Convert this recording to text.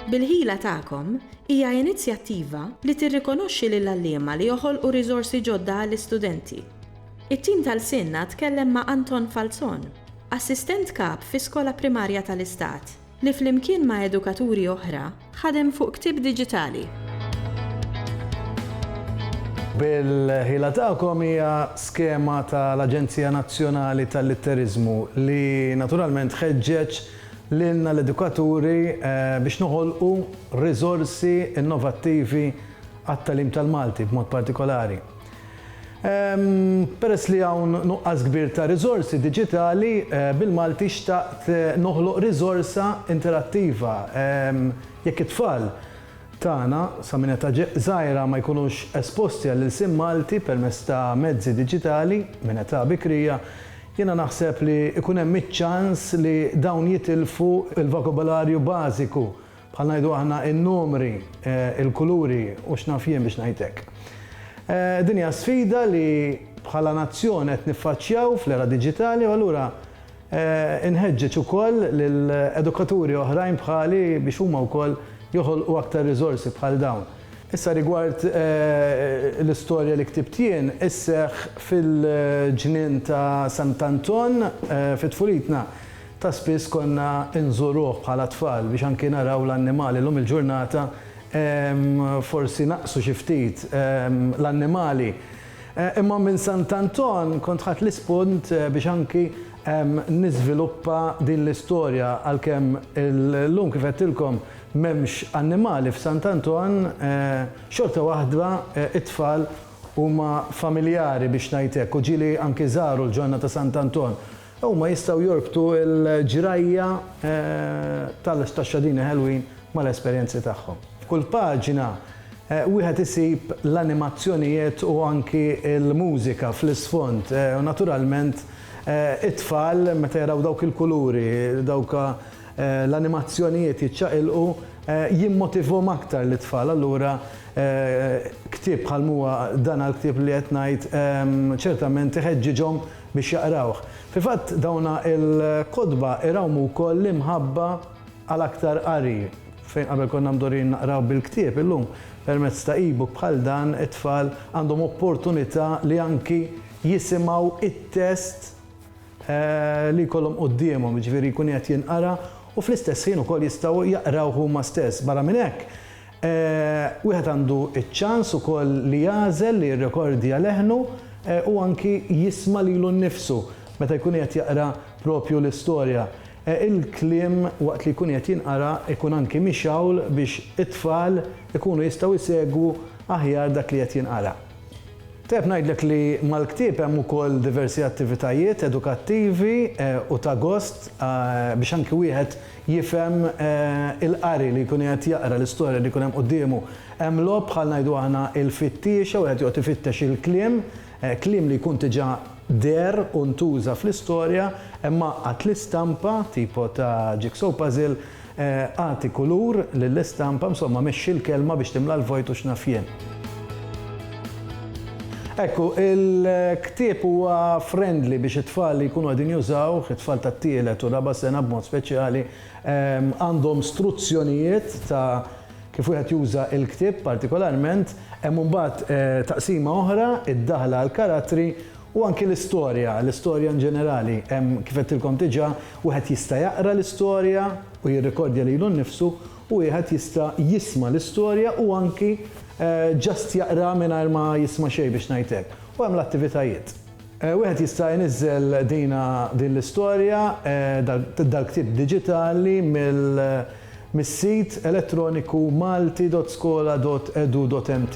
Bil-Ħila Tagħkom hija inizjattiva li tirrikonoxxi lill-għalliema li joħolqu riżorsi ġodda għall-istudenti. It-tim ta' lsienna tkellem ma' Anton Falzon, Assistent Kap fi skola primarja tal-Istat. li flimkien ma' edukaturi oħra ħadem fuq ktieb diġitali. Bil-ħila tagħkom hija skema tal-Aġenzija Nazzjonali tal-Litteriżmu li naturalment ħeġġeġ lilna l-edukaturi biex noħolqu riżorsi innovattivi għat-tagħlim tal-Malti b'mod partikolari. Peress li hawn nuqqas kbir ta' riżorsi diġitali, bil-Malti xtaqt noħloq riżorsa interattiva. Jekk it-tfal tagħna sa minn età żgħira ma jkunux esposti għall-ilsien Malti permezz ta' mezzi diġitali minn età bikrija, jiena naħseb li jkun hemm iċ-ċans li dawn jitilfu l-vokabolarju bażiku Bħal ngħidu aħna in-numri, il-kuluri u x'naf jien biex ngħid hekk. Din hija sfida li bħala nazzjon qed niffaċċjaw fl-era diġitali u allura inħeġġeġ ukoll lil edukaturi oħrajn bħali biex huma wkoll joħolqu aktar riżorsi bħal dawn. Issa rigward l-istorja li ktibt jien, isseħħ fil-ġnien ta' Sant'Anton fi tfulitna. Ta' spiss konna nżuruh bħala tfal biex anki naraw l-annimali. Illum il-ġurnata forsi naqsu xi ftit l-annimali. Imma minn Sant' Anton kont ħadt l-ispunt biex anki niżviluppa din l-istorja għalkemm illum kif għedtilkom m'hemmx annimali f'Sant' Anton, xorta waħda t-tfal huma familjari biex ngħid hekk u ġieli anki żaru l-ġonna ta' Sant' Anton. Huma jistgħu jorbtu l-ġrajja tal-istaxxadini ħelwin mal-esperjenzi tagħhom. F'kull paġna wieħed isib l-animazzjonijet u anki l-mużika fl-isfond u naturalment it-tfal meta jaraw dawk il-kuluri, dawk l-animazzjonijiet jiċċaqilqu jimmotivhom aktar lit-tfal. Allura ktieb bħalma huwa dan għall-ktieb li qed ngħid ċertament iħeġġiġhom biex jaqrawh. Fil-fatt, dawn il-kotba irawmu wkoll l-imħabba għal aktar qari. Fejn qabel konna mdorrijin naqraw bil-ktieb, illum permezz ta' e-book bħal dan it-tfal għandhom opportunità li anki jisimgħu t-test li jkollhom quddiemhom, jiġifieri jkun qiegħed jinqara u fl-istess ħin ukoll jistgħu jaqrawh huma stess. Barra minn hekk, Wieħed għandu ċ-ċans ukoll li jagħżel li jirrekordja leħnu u anki jisma' lilu nnifsu meta jkun qiegħed jaqra proprju l-istorja. Il-kliem waqt li jkun qiegħed jinqara jkun anki mixgħul biex it-tfal ikunu jistgħu jsegwu aħjar dak li qed jinqara. Tajjeb ngħidlek li mal-ktieb hemm ukoll diversi attivitajiet edukattivi u ta' gost biex anki wieħed jifhem il-qari li jkun qiegħed jaqra, l-istorja li jkun hemm quddiemu. Hemm logħob bħal ngħidu aħna il-fittiexa, wieħed joqgħod ifittex il-kliem, kliem li jkun diġà deher u ntuża fl-istorja, hemm għaqqad l-istampa, tipo ta' jigsaw puzzle, agħti kulur lill-istampa, insomma mexxi l-kelma biex timla l-vojt u x'naf jien. Hekk hu, il-ktieb huwa friendly biex it-tfal li jkunu qegħdin jużawh, it-tfal tat-tielet u r-raba' sena b'mod speċjali, għandhom struzzjonijiet ta' kif wieħed juża l-ktieb partikolarment. Hemm imbagħad taqsima oħra, id-daħla għall-karattri u anki l-istorja, l-istorja in ġenerali. Hemm, kif għedtilkom diġà, wieħed jista' jaqra l-istorja u jirrikordja lilu nnifsu u wieħed jista' jisma' l-istorja u anki just jaqra mingħajr ma jisma' xejn biex ngħid hekk. U hemm l-attivitajiet. Wieħed jista' jniżżel dina din l-istorja, dal-ktieb diġitali mis-sit elettroniku malti.skola.edu.mt.